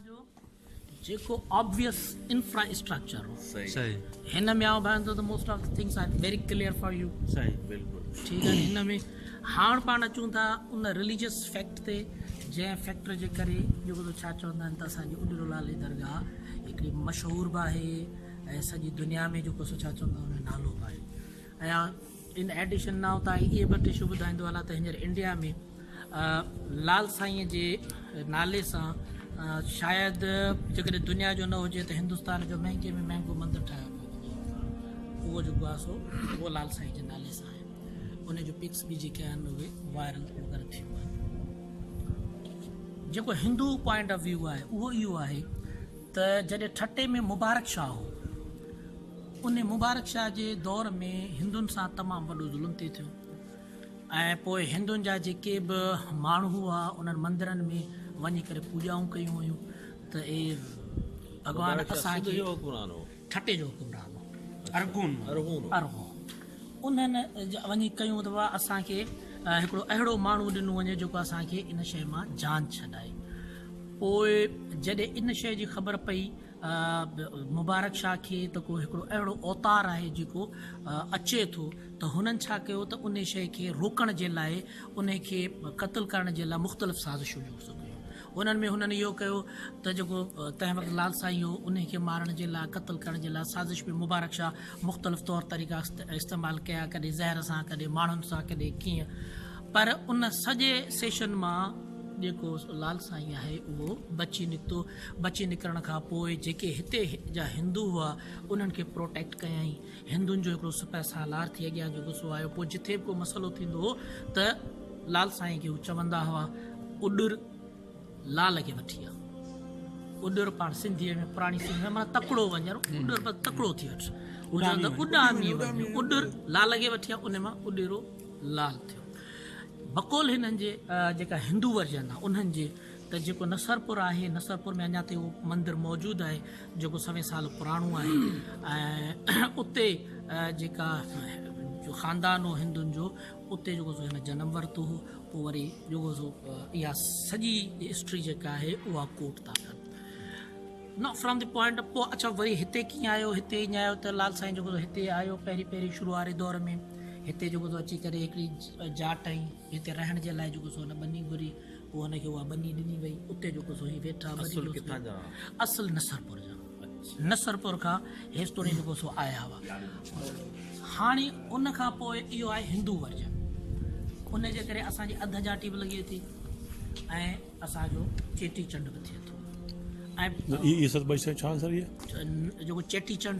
جو جيڪو obvious infrastructure هو صحيح هن ۾ آئون ڀائيندو ته most of things are very clear for you صحيح بلڪل ٺيڪ آهي هن ۾ هاڻ پاڻ اچون ٿا ان ريليجس فيڪٽ تي جنهن فيڪٽر جي ڪري جيڪو ته ڇا چوندا آهن ته اسانجي اڏرو لالي درگاهه هڪڙي مشهور به آهي ۽ سڄي دنيا ۾ جيڪو سو ڇا چوندا آهن نالو به آهي ايان ان ايڊيشن نائو تان اهي به ٽشو ٻڌائيندو هلان ته هينئر انڊيا ۾ لال سائينء جي نالي سان شايد جيڪڏهن دنيا جو نه هجي ته هندستان جو مهنگي ۾ مهنگو مندر ٺاهيو پيو وڃي اهو جيڪو آهي سو اهو لال سائين جي نالي سان آهي ان جو پڪس به جيڪي آهن اهي وائرل وغيره ٿيون آهن جيڪو هندو پوائنٽ آف ويو آهي اهو اهو آهي ته جڏهن ٺٽي ۾ مبارڪ شاهه هو ان مبارڪ شاهه جي دور ۾ هندن سان تمام وڏو ظلم تي ٿيو ۽ پوء هندن جا جيڪي به ماڻهو هئا انهن مندرن ۾ وڃي ڪري پوڄائون ڪيون ويون ته اي ڀڳوان اسان کي ٺٽي جو حڪمران هو ارغون ارغون انهن وڃي ڪيون ته اسان کي هڪڙو اهڙو ماڻهو ڏنو وڃي جيڪو اسان کي ان شيء مان جان ڇڏائي پوء جڏهن ان شيء جي خبر پئي مبارڪ شاهه کي ته ڪو هڪڙو اهڙو اوتار آهي جيڪو اچي ٿو ته هنن ڇا ڪيو ته انهي شيء کي روڪڻ جي لاء انهي کي قتل ڪرڻ جي لاء مختلف سازشون جوڙ ٿو ڪيون انهن ۾ هنن اهو ڪيو ته جيڪو تنهن وقت لال سائين هو انهي کي مارڻ جي لاء قتل ڪرڻ جي لاء سازش ۾ مبارڪ شاهه مختلف طور طريقا استعمال ڪيا ڪڏهن زهر سان ڪڏهن ماڻهن سان ڪڏهن ڪيئن پر ان سڄي سيشن مان جيڪو لال سائين آهي اهو بچي نڪتو بچي نڪرڻ کان پوء جيڪي هتي جا هندو هئا انهن کي پروٽيڪٽ ڪيائين. هندن جو هڪڙو سپهه سالار ٿي اڳيان جو گسو آيو. پوء جٿي به ڪو مسئلو ٿيندو هو ته لال سائين کي هو چوندا هئا اڏر لال کي وٺي آ. اڏر پاڻ سنڌيء ۾ پراڻي سنڌ ۾ معنيٰ تڪڙو وڃڻ اڏر معنيٰ تڪڙو ٿي وٺ. هو چوندا هئا اڏامي وڃ اڏر لال کي وٺي آ ان مان اڏيرو لال ٿيو. بقول هنن جي جيڪا هندو ورجن آ انهن جي ته جيڪو نصرپور آهي نصرپور ۾ اڃا تائين اهو مندر موجود آهي جيڪو سوين سال پراڻو آهي ۽ اتي جيڪا جو خاندان هو هندن جو اتي جيڪو سو هن جنم ورتو هو پوء وري جيڪو سو اها سڄي هسٽري جيڪا آهي اها ڪوٽ ٿا ڪن no from the point of پوء اچا وري هتي ڪيئن آيو هتي ائين آيو ته لال سائين جيڪو هتي آيو پهرين پهرين شروع واري دور ۾ هتي جيڪو اچي ڪري هڪڙي جاٽ ۽ هتي رهڻ جي لاء جيڪو سو هن ٻني گهري، پوء هن کي اها ٻني ڏني وئي، اتي جيڪو سو هي ويٺا. اصل ڪٿان جا هئا؟ اصل نصرپور جا. نصرپور کان هيستوڻي جيڪو سو آيا هئا. هاڻي ان کان پوء اهو آهي هندو ورجن. ان جي ڪري اسان جي اڌ جاٽي به لڳي ٿي ۽ اسان جو چيٽي چنڊ به ٿئي ٿو ۽. اي سڀ ٻئي شيون ڇا آنسر اهي؟ جيڪو چيٽي چنڊ.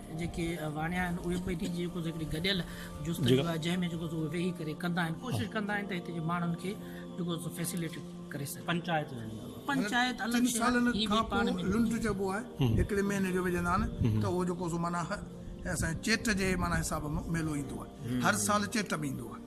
جيڪي واڻيا آهن اهي به ٻيٺي جيڪو هڪڙي گڏيل جستجو آهي جنهن ۾ جيڪو ويهي ڪري ڪندا آهن ڪوشش ڪندا آهن ته هتي جي ماڻهن کي جيڪو فيسليٽ ڪري سگهن پنچائت پنچائت الڳ شي آهي هي به پاڻ ۾ لنڊ چئبو آهي هڪڙي مهيني جو وجهندا آهن ته اهو جيڪو سو معنيٰ اسان جي چيٽ جي معنيٰ حساب ۾ ميلو ايندو آهي هر سال چيٽ ۾ ايندو آهي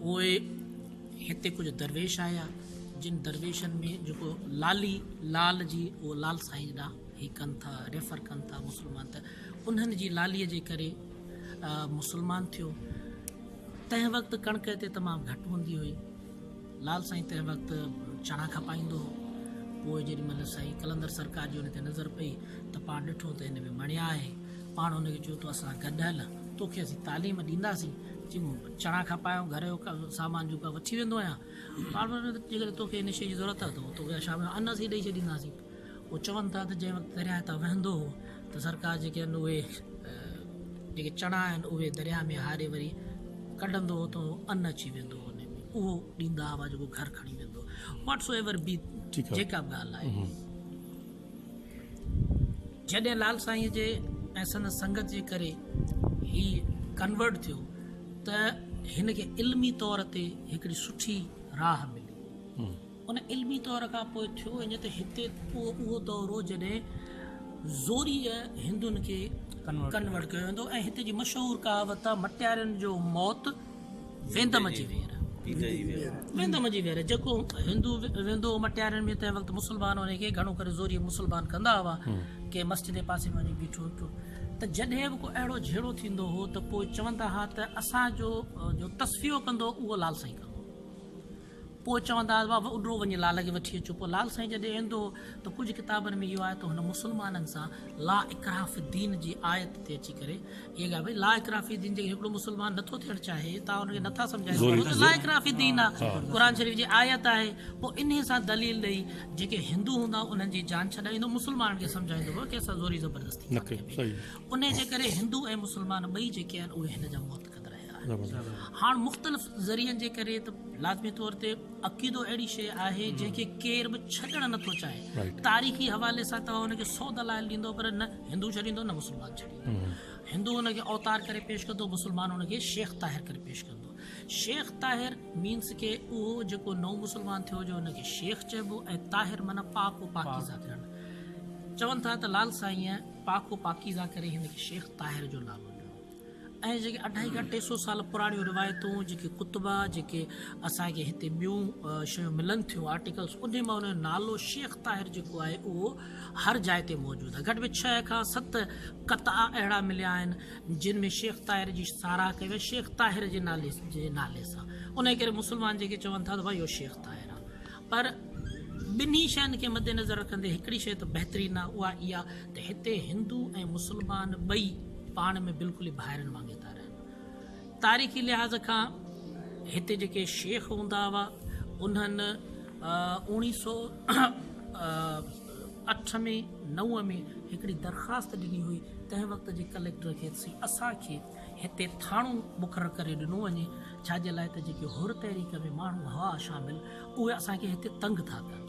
پوء هتي ڪجهه درويش آيا، جن درويشن ۾ جيڪو لالي لال جي اهو لال سائين ڏانهن هي ڪن ٿا ريفر ڪن ٿا مسلمان ته انهن جي لالي جي ڪري مسلمان ٿيو تنهن وقت ڪڻڪ هتي تمام گهٽ هوندي هئي. لال سائين تنهن وقت چڻا کپائيندو هو. پوء جيڏي مهل سائين قلندر سرڪار جي ان تي نظر پئي ته پاڻ ڏٺو ته هن ۾ مڻيا آهي. پاڻ هن کي چيو تو اسان سان گڏ هل، توکي اسين تعليم ڏينداسين. چڱو، چڻا کپايائون، گهر جو سامان جيڪو آهي وٺي ويندو آهيان. پاڻ وري جيڪڏهن توکي ان شيء جي ضرورت آهي ته توکي شام جو ان اسين ڏئي ڇڏينداسين. هو چون ٿا ته جنهن وقت درياهه تان وهندو هو ته سرڪار جيڪي آهن اهي جيڪي چڻا آهن اهي درياهه ۾ هاري وري ڪڍندو هو ته ان اچي ويندو هو اهو ڏيندا هئا جيڪو گهر کڻي ويندو واٽس ايور بي جيڪا به ڳالهه آهي جڏهن لال سائين جي ۽ سندس سنگت جي ڪري هي ڪنورٽ ٿيو ته هن کي علمي طور تي هڪڙي سٺي راهه ملي ان علمي دور کان پوء ٿيو ائين ته هتي اهو دور هو جڏهن زوريء هندن کي ڪنورٽ ڪيو ويندو ۽ هتي جي مشهور ڪهاوت آهي مٽيارين جو موت ويندم جي وير ويندم جي وير جيڪو هندو ويندو هو مٽيارين ۾ تنهن وقت مسلمان ان کي گهڻو ڪري زوريء مسلمان ڪندا هئا ڪنهن مسجد جي پاسي ۾ وڃي بيٺو ٿيو ته جڏهن به ڪو اهڙو جهيڙو ٿيندو هو ته پوء چوندا هئا ته اسان جو جو تصفيو ڪندو اهو لال سائين ڪندو پوء چوندا هئا واهه اڏرو وڃي لال کي وٺي اچو پوء لال سائين جڏهن ايندو هو ته ڪجهه ڪتابن ۾ اهو آهي ته هن مسلمانن سان لا اڪراهه في الدين جي آيت تي اچي ڪري اهي ڳالهه ڀئي لا اڪراهه في الدين جيڪڏهن هڪڙو مسلمان نٿو ٿيڻ چاهي تان ان کي نٿا سمجهائي سگهو ته لا اڪراهه في الدين آ قرآن شريف جي آيت آهي پوء انهي سان دليل ڏئي جيڪي هندو هوندا انهن جي جان ڇڏائيندو مسلمانن کي سمجهائيندو هو ڪنهن سان زوري زبردستي ڪانه ڪبي انهي جي ڪري هندو ۽ مسلمان ٻئي جيڪي آهن اهي هن جا محترم هاڻ مختلف ذريعن جي ڪري ته لازمي طور تي عقيدو اهڙي شيء آهي جنهن کي ڪير به ڇڏڻ نه ٿو چاهي تاريخي حوالي سان توهان ان کي سو دلائل ڏيندو پر نه هندو ڇڏيندو نه مسلمان ڇڏيندو هندو ان کي اوتار ڪري پيش ڪندو مسلمان ان کي شيخ طاهر ڪري پيش ڪندو شيخ طاهر مينس کي اهو جيڪو نو مسلمان ٿيو جو ان کي شيخ چئبو ۽ طاهر معنی پاڪ و پاڪيزه ٿيڻ چون ٿا ته لال سائينء پاڪ و پاڪيزه ڪري هن کي شيخ طاهر جو نالو ۽ جيڪي اڍائي کان ٽي سؤ سال پراڻيون روايتون جيڪي ڪتبا جيڪي اسان کي هتي ٻيون شيون ملن ٿيون آرٽيڪلس انهي مان انهي نالو شيخ طاهر جيڪو آهي اهو هر جاء تي موجود آهي گهٽ ۾ ڇهه کان ست قطعا اهڙا مليا آهن جن ۾ شيخ طاهر جي ساراهه ڪئي وئي شيخ طاهر جي نالي جي نالي سان انهي ڪري مسلمان جيڪي چون ٿا ته ڀاء اهو شيخ طاهر آهي پر ٻنهي شين کي مدنظر رکندي هڪڙي شيء ته بهترين آهي اها اها ته هتي هندو ۽ مسلمان ٻئي پاڻ ۾ بلڪل ئي ڀائرن وانگي ٿا رهن. تاريخي لحاظ کان هتي جيڪي شيخ هوندا هئا انهن اوڻي سو اٺ ۾ نو ۾ هڪڙي درخواست ڏني هئي تنهن وقت جي ڪليڪٽر کي سي اسان کي هتي ٿاڻو مقرر ڪري ڏنو وڃي، ڇاجي لاء ته جيڪي حر تحريڪ ۾ ماڻهو هئا شامل، اهي اسان کي هتي تنگ ٿا ڪن.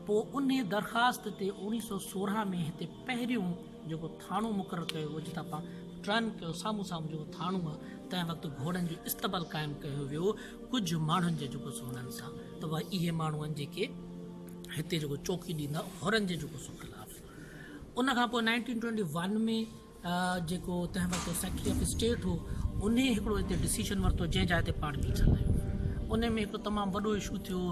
پوء انهي درخواست تي اوڻيهه سؤ سورهن ۾ هتي پهريون جيڪو ٿاڻو مقرر ڪيو ويو، جتان پاڻ ٽرن ڪيو، سامهون سامهون جيڪو ٿاڻو آ، تنهن وقت گهوڙن جو استبل قائم ڪيو ويو، ڪجهه ماڻهن جي جيڪو سو انهن سان ته اهي اهي ماڻهو آهن جيڪي هتي جيڪو چوڪي ڏيندا، حرن جي جيڪو سو خلاف. ان کان پوء نائنٽين ٽوئنٽي ون ۾ جيڪو تنهن وقت سيڪريٽري آف اسٽيٽ هو انهي هڪڙو هتي ڊسيشن ورتو جنهن جاء تي پاڻ بيٺل آهيون انهي ۾ هڪ تمام وڏو اشو ٿيو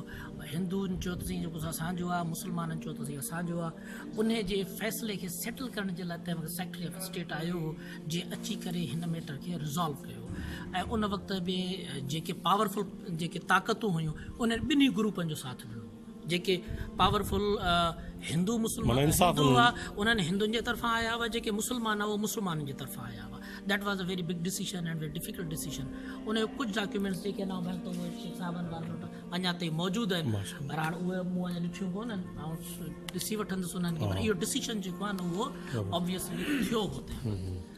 هندون چيو ته سائين جيڪو اسان جو آهي مسلمانن چيو ته سائين اسان جو آهي انهي جي فيصلي کي سيٽل ڪرڻ جي لاء تنهن وقت سيڪريٽري آف اسٽيٽ آيو هو جنهن اچي ڪري هن ميٽر کي ريزالو ڪيو ۽ ان وقت به جيڪي پاورفل جيڪي طاقتون هيون انهن ٻنهي گروپن جو ساٿ ڏنو جيڪي پاور فل هندو مسلمان هندو هئا انهن هندن جي طرفان آيا هئا جيڪي مسلمان هئا مسلمانن جي طرفان آيا هئا that was a very big decision and very difficult decision ان جو ڪجهه ڊاڪيومينٽس جيڪي انا ڀائي تو شيخ صاحبن وارن وٽ اڃا تائين موجود آهن پر هاڻ اهي مون اڃا ڏٺيون ڪون آهن آئون ڏسي وٺندس انهن کي پر اهو ڊيسيشن جيڪو آهي نه اهو ابويسلي ٿيو هو تنهن وقت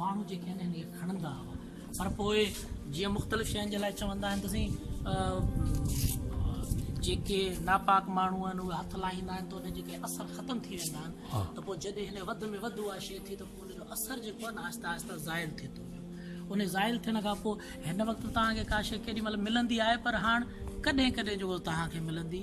ماڻهو جيڪي آهن هن کي کڻندا هئا پر پوء جيئن مختلف شين جي لاء چوندا آهن ته سائين جيڪي ناپاڪ ماڻهو آهن اهي هٿ لاهيندا آهن ته ان جيڪي اثر ختم ٿي ويندا آهن ته پوء جڏهن هن وڌ ۾ وڌ اها شي ٿي ته پوء ان جو اثر جيڪو آهي آهستي آهستي زائل ٿي ٿو ويو ان زائل ٿيڻ کان پوء هن وقت تان کي ڪا شي ڪيڏي مهل ملندي آهي پر هاڻ ڪڏهن ڪڏهن جو تان کي ملندي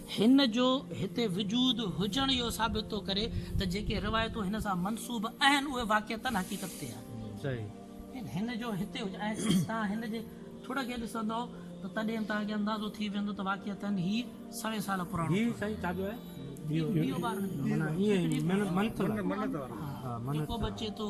هن جو هتي وجود هجڻ اهو ثابت ٿو ڪري ته جيڪي روايتون هن سان منسوب اهن اهي واقعتن حقيقت تي آهن. هن جو هتي هجڻ ۽ توهان هن جي ٿڙ کي ڏسندؤ ته تڏهن توهان کي اندازو ٿي ويندو ته واقعتاً هي سوين سال پراڻو ٿو.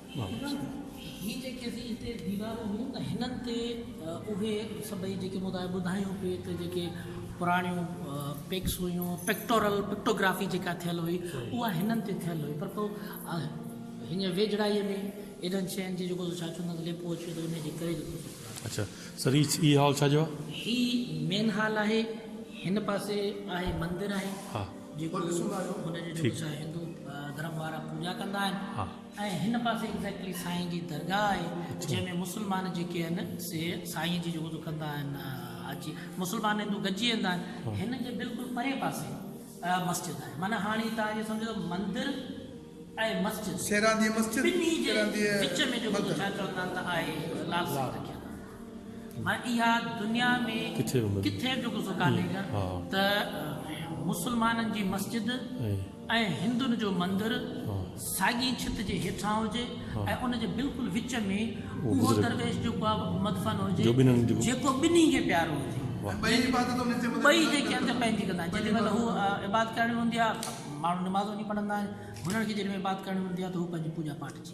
هي جيڪي اسين هتي ديوارون هيون ته هنن تي اهي سڀئي جيڪي مون توهان کي ٻڌايون پي ته جيڪي پراڻيون پڪس هيون پڪٽورل پڪٽوگرافي جيڪا ٿيل هئي اها هنن تي ٿيل هئي پر پوء هينئر ويجهڙائيء ۾ ايڏن شين جي جيڪو ڇا چوندا آهن ليپو اچي ويو ته ان جي ڪري جيڪو اڇا سر هي هي هال ڇا جو آهي؟ هي مين هال آهي هن پاسي آهي مندر آهي جيڪو هن جو جيڪو ڇا هندو ڌرم وارا پوڄا ڪندا آهن ۽ هن پاسي ايگزيڪٽلي سائين جي درگاهه آهي جنهن ۾ مسلمان جيڪي آهن سي سائين جي جيڪو ڪندا آهن حاجي مسلمان هندو گڏجي ويندا آهن هن جي بلڪل پري پاسي مسجد آهي معنيٰ هاڻي توهان اهو سمجهو ته مندر ۽ مسجد ٻنهي جي وچ ۾ جيڪو ڇا چوندا آهن ته آهي لال سائين رکيل ڀائي اها دنيا ۾ ڪٿي به غصو ڪانهي ته مسلمانن جي مسجد ۽ هندن جو مندر ساڳي ڇت جي هيٺان هجي ۽ ان جي بلڪل وچ ۾ اهو درويش جو مدفن هجي جيڪو ٻنهي کي پيارو هجي ۽ ٻئي جيڪي اندر پنهنجي ڪندا آهن جيڏي مهل هو عبادت ڪرڻي هوندي آهي ماڻهو نماز وڃي پڙهندا آهن هنن کي جيڏي مهل عبادت ڪرڻي هوندي آهي ته هو پنهنجي پوڄا پاٺ جي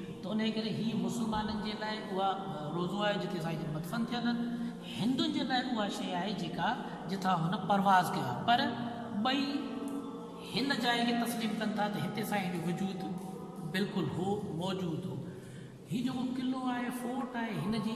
ته انهيء ڪري هيء مسلمانن جي لاء اها روضو آهي جتي سائين جن مدفن ٿيل آهن. هندن جي لاء اها شيء آهي جيڪا جتان هن پرواز ڪيو آهي. پر ٻئي هن جاء کي تسليم ڪن ٿا ته هتي سائين جو وجود بلڪل هو، موجود هو. هي جيڪو قلعو آهي، فورٽ آهي، هن جي.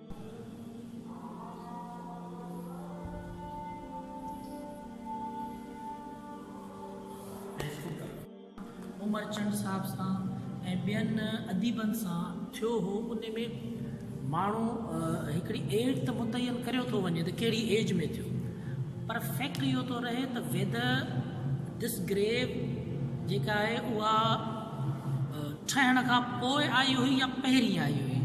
امرچند صاحب سان ۽ ٻين اديبن سان ٿيو هو ان ۾ ماڻهو هڪڙي ايج ته متعين ڪريو ٿو وڃي ته ڪهڙي ايج ۾ ٿيو پر فيڪٽ اهو ٿو رهي ته ويدر دس گريو جيڪا آهي اها ٺهڻ کان پوء آئي هئي يا پهرين آئي هئي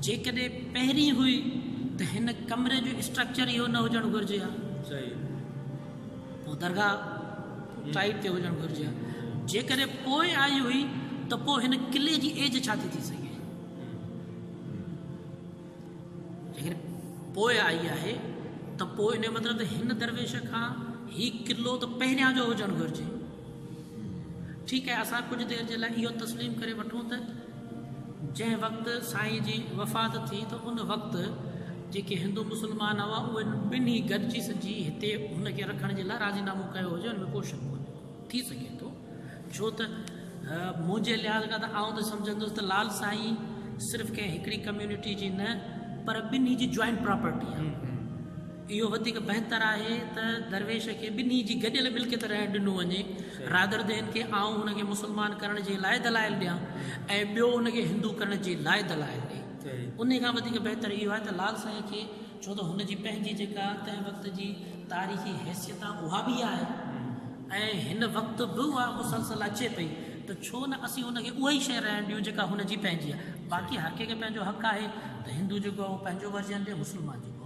جيڪڏهن پهرين هئي ته هن ڪمري جو اسٽرڪچر اهو نه هجڻ گهرجي ها پوء درگاهه ٽائيپ تي هجڻ گهرجي ها جيڪڏهن پوء آئي هئي ته پوء هن قلعي جي ايج ڇا ٿي ٿي سگهي پوء آئي آهي ته پوء ان جو مطلب ته هن درويش کان هي قلعو ته پهريان جو هجڻ گهرجي ٺيڪ آهي اسان ڪجهه دير جي لاء اهو تسليم ڪري وٺون ته جنهن وقت سائين جي وفات ٿي ته ان وقت جيڪي هندو مسلمان هئا اهي ٻنهي گڏجي سڄي هتي هن کي رکڻ جي لاء راضي نامو ڪيو هجي ان ۾ ڪو شڪ ڪونهي ٿي سگهي ٿو ڇو ته منهنجي لحاظ کان ته آئون ته سمجهندس ته لال سائين صرف ڪنهن هڪڙي ڪميونٽي جي نه پر ٻنهي جي جوائنٽ پراپرٽي آهي اهو وڌيڪ بهتر آهي ته درويش کي ٻنهي جي گڏيل ملڪيت رهڻ ڏنو وڃي رادردين کي آئون هن کي مسلمان ڪرڻ جي لاء دلائل ڏيان ۽ ٻيو ان کي هندو ڪرڻ جي لاء دلائل ڏي انهي کان وڌيڪ بهتر اهو آهي ته لال سائين کي ڇو ته هن جي پنهنجي جيڪا تنهن وقت جي تاريخي حيثيت آهي اها به آهي ۽ هن وقت به اها مسلسل اچي پئي ته ڇو نه اسين ان کي اها ئي شيء رهڻ ڏيون جيڪا هن جي پنهنجي آهي باقي هر ڪنهن کي پنهنجو حق آهي ته هندو جيڪو آهي اهو پنهنجو ورجن ڏي مسلمان جيڪو آهي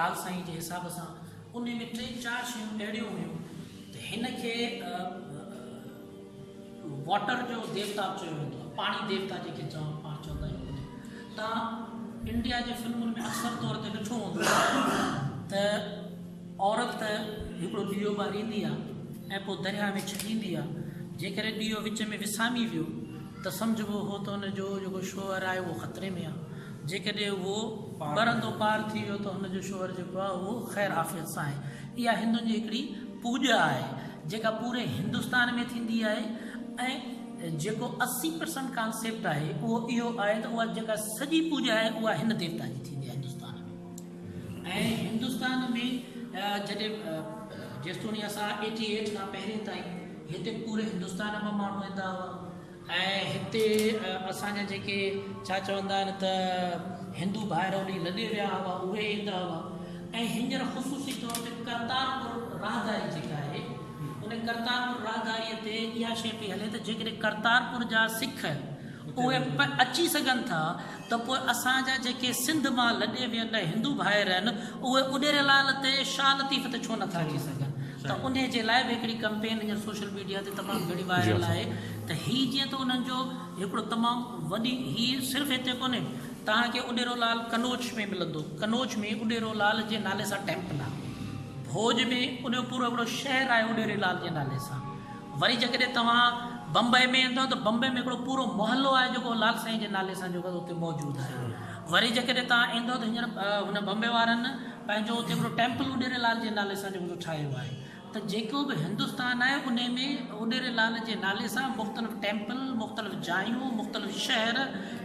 لال سائين جي حساب سان انهي ۾ ٽي چار شيون اهڙيون هيون ته هن کي واٽر جو ديوتا به چيو ويندو آهي پاڻي ديوتا جنهن کي چون پاڻ چوندا آهيون تان انڊيا جي فلمن ۾ اڪثر طور تي ڏٺو هوندو ته عورت ته هڪڙو ڏيئو ٻاريندي آهي ۽ پوء درياء ۾ ڇڏيندي آهي جيڪڏهن ڏيئو وچ ۾ وسامي ويو ته سمجهبو هو ته ان جو جيڪو شوهر آهي اهو خطري ۾ آهي جيڪڏهن اهو ٻرندو پار ٿي ويو ته هن جو شوهر جيڪو آهي اهو خير عافيت سان آهي. اها هندن جي هڪڙي پوڄ آهي جيڪا پوري هندستان ۾ ٿيندي آهي ۽ جيڪو اسي پرسنٽ ڪانسيپٽ آهي اهو اهو آهي ته اها جيڪا سڄي پوڄ آهي اها هن ديوتا جي ٿيندي آهي هندستان ۾ ۽ هندستان ۾ جڏهن جيستوڻي اسان ايٽي ايٽ کان پهرين تائين هتي پوري هندستان مان ماڻهو ايندا هئا ۽ هتي اسان جا جيڪي ڇا چوندا آهن ته هندو ڀائر هوڏي لڏي ويا هئا اهي ايندا هئا ۽ هينئر خصوصي طور تي ڪرتارپور راهداري جيڪا آهي ان ڪرتارپور راهداري تي اها شيء پئي هلي ته جيڪڏهن ڪرتارپور جا سک اهي اچي سگهن ٿا ته پوء اسان جا جيڪي سنڌ مان لڏي ويل هندو ڀائر آهن اهي اڏيري لال تي شاهه لطيف تي ڇو نٿا اچي سگهن ته انهي جي لاء به هڪڙي ڪمپين هينئر سوشل ميڊيا تي تمام گهڻي وائرل آهي ته هي جيئن ته انهن جو هڪڙو تمام وڏي هي صرف هتي ڪونهي توهان کي اڏيرو لال قنوج ۾ ملندو قنوج ۾ اڏيرو لال جي نالي سان ٽيمپل آهي ڀوڄ ۾ انهي پورو هڪڙو شهر آهي اڏيري لال جي نالي سان. وري جيڪڏهن توهان بمبئي ۾ ايندؤ ته بمبئي ۾ هڪڙو پورو محلو آهي جيڪو لال سائين جي نالي سان جيڪو اتي موجود آهي وري جيڪڏهن توهان ايندؤ ته هينئر هن بمبئي وارن پنهنجو اتي هڪڙو ٽيمپل اڏيري لال جي نالي سان جيڪو ٺاهيو آهي ته جيڪو به هندستان آهي انهي ۾ اڏيري لال جي نالي سان مختلف ٽيمپل مختلف جايون مختلف شهر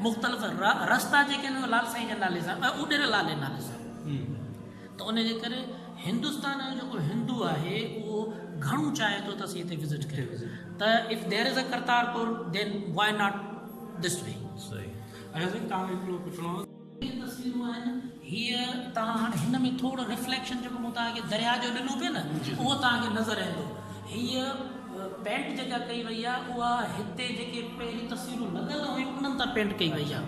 مختلف رستا جيڪي آهن اهي لال سائين جي نالي سان اڏيري لال جي نالي سان ته ان جي ڪري هندستان جو جيڪو هندو آهي اهو گهڻو چاهي ٿو ته اسين هتي وزٽ ڪريون ته if there is a Kartarpur then why not this way Ayaz sahib توهان کي هڪڙو پڇڻو هو. جيڪي تصويرون آهن هي توهان هاڻي هن ۾ ٿورو رفليڪشن جيڪو مون توهان کي درياء جو ڏنو پئي نه اهو توهان کي نظر ايندو هي پينٽ جيڪا ڪئي وئي آهي اها هتي جيڪي پهرين تصويرون لڳل هيون انهن تان پينٽ ڪئي وئي آهي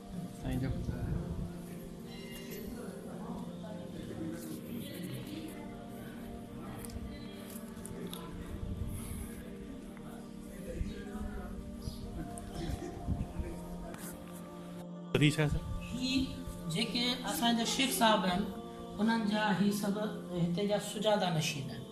جيڪي اسان جا شيخ صاحب آهن انهن جا هي سڀ هتي جا سجاده نشين آهن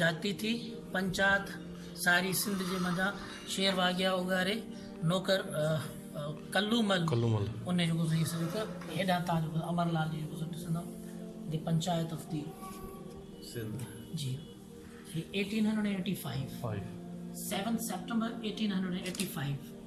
جهاتي ٿي پنچات ساري سنڌ جي منجهان شير واگيا اوڳاري نوڪر ڪلو مل ان جو گذري سڄو ته هيڏان تان جو امر لال جي گذر ڏسندو the panchayat of the Sindh جي 1885 7 سيپٽمبر 1885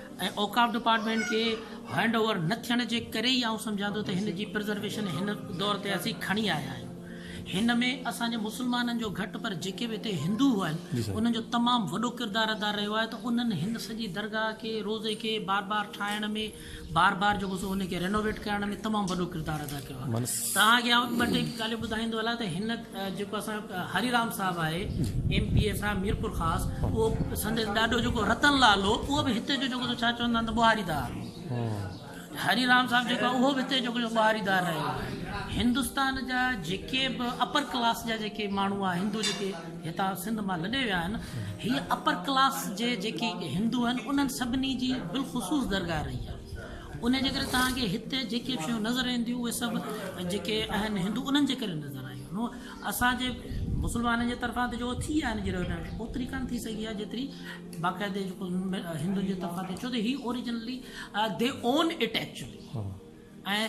۽ اوقاف ڊپارٽمينٽ کي هينڊ اوور نه ٿيڻ جي ڪري ئي آئون سمجهان ٿو ته هن جي پرزرويشن هن دور تي اسين کڻي آيا آهيون هن ۾ اسان جي مسلمانن جو گهٽ پر جيڪي به هتي هندو هئا آهن انهن جو تمام وڏو ڪردار ادا رهيو آهي ته انهن هن سڄي درگاهه کي روضي کي بار بار ٺاهڻ ۾ بار بار جيڪو سو ان کي رينوويٽ ڪرڻ ۾ تمام وڏو ڪردار ادا ڪيو آهي توهان کي آئون ٻه ٽي ڳالهيون ٻڌائيندو هلان ته هن جيڪو اسان هري رام صاحب آهي ايم پي اي سان ميرپور خاص اهو سندس ڏاڏو جيڪو رتن لال هو اهو به هتي جو جيڪو ڇا چوندا آهن ته ٻهاري دار هو هري رام صاحب جيڪو اهو به هتي جيڪو ٻهاري دار رهيو هندستان جا جيڪي به اپر ڪلاس جا جيڪي ماڻهو آهن هندو جيڪي هتان سنڌ مان لڏي ويا آهن هي اپر ڪلاس جي جيڪي هندو آهن انهن سڀني جي بالخصوص درگاهه رهي آهي انهيء جي ڪري توهان کي هتي جيڪي به شيون نظر اينديون اهي سڀ جيڪي آهن هندو انهن جي ڪري نظر آيون نو اسان جي مسلمانن جي طرفان ته جيڪو ٿي آهن جيڪو هن ۾ اوتري ڪانه ٿي سگهي آهي جيتري باقاعدي جيڪو هندن جي طرفان ٿي ڇو ته هي originally they own it actually ۽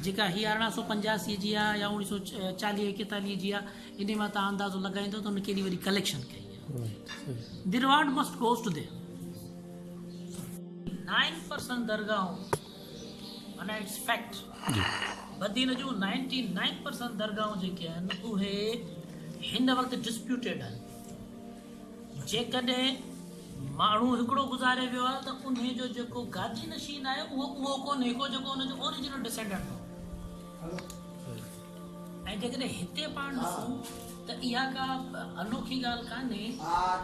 جيڪا هي ارڙهن سو پنجاسي جي آهي يا اوڻيهه سو چاليهه ايڪيتاليهه جي آهي ان مان تان اندازو لڳائيندو ته هن ڪيڏي وڏي ڪليڪشن ڪئي آهي the road must goes to them nine percent درگاهون معنيٰ اٽس فيڪٽ بدين جون نائنٽي نائن پرسنٽ درگاهون جيڪي آهن اهي هن وقت ڊسپيوٽيڊ آهن جيڪڏهن ماڻهو هڪڙو گذاري ويو آهي ته ان جو جيڪو گادي نشين آهي اهو اهو ڪونهي ڪو جيڪو ان جو اوریجنل ڊسينڊنٽ هو ۽ جيڪڏهن هتي پاڻ ڏسون ته اها ڪا انوکي ڳالهه ڪانهي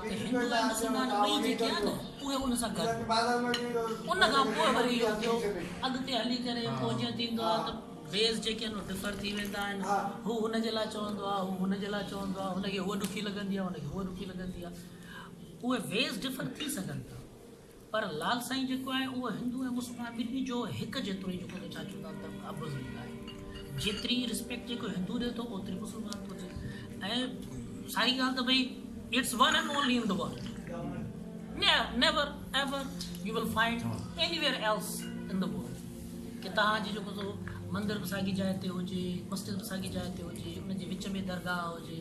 ته هندو ۽ مسلمان ٻئي جيڪي آهن اهي ان سان گڏ ان کان پوء وري اهو ٿيو اڳتي هلي ڪري پوء جيئن ٿيندو آهي ته ويز جيڪي آهن اهي ڊفر ٿي ويندا آهن هو هن جي لاء چوندو آهي هو هن جي لاء چوندو آهي هن کي هوء ڏکي لڳندي آهي هن کي هوء ڏکي لڳندي آهي اهي ويز ڊفر ٿي سگهن ٿا پر لال سائين جيڪو آهي اهو هندو ۽ مسلمان ٻنهي جو هڪ جيترو ئي جيڪو ڇا چئبو آهي ته ابوذر ليگ آهي جيتري رسپيڪٽ جيڪو هندو ڏي ٿو اوتري مسلمان ٿو ڏي ۽ ساري ڳالهه ته ڀئي it's one and only in the world never ever you will find anywhere else in the world کہ تهان جي جيڪو سو مندر به ساڳي جاء تي هجي مسجد به ساڳي جاء تي هجي ان جي وچ ۾ درگاهه هجي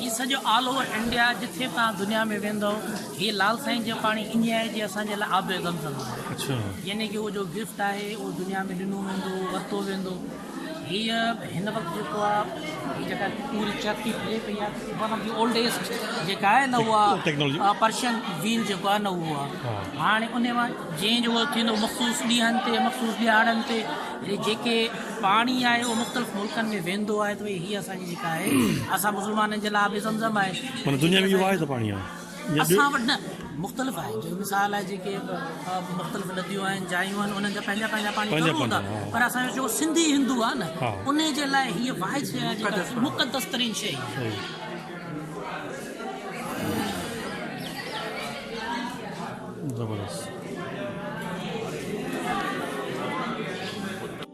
هي سڄو آل اوور انڊيا جٿي توهان دنيا ۾ ويندؤ هي لال سائين جو پاڻي انجي آهي جي اسان جي لاء آب زم زم آهي يعني ڪي اهو جو گفٽ آهي اهو دنيا ۾ ڏنو ويندو ورتو ويندو هي هن وقت جيڪو آهي هي جيڪا پوري چرتي ڦري پئي آهي ون آف دي اولڊيسٽ جيڪا آهي نه اها پرشن ويل جيڪو آهي نه اهو آهي هاڻي ان مان جنهن جو اهو ٿيندو مخصوص ڏينهن تي مخصوص ڏيهاڙن تي جيڪي پاڻي آهي اهو مختلف ملڪن ۾ ويندو آهي ته هي اسان جيڪا آهي اسان مسلمانن جي لاء آب زمزم آهي معنيٰ دنيا ۾ اهو آهي ته پاڻي آهي اسان وٽ نه مختلف آهي جيڪي مثال آهي جيڪي مختلف نديون آهن جايون آهن انهن جا پنهنجا پنهنجا پاڻي ضرور هوندا پر اسان جو جيڪو سنڌي هندو آهي نه ان جي لاء هيء واحد شيء آهي جيڪا مقدس ترين شيء زبردست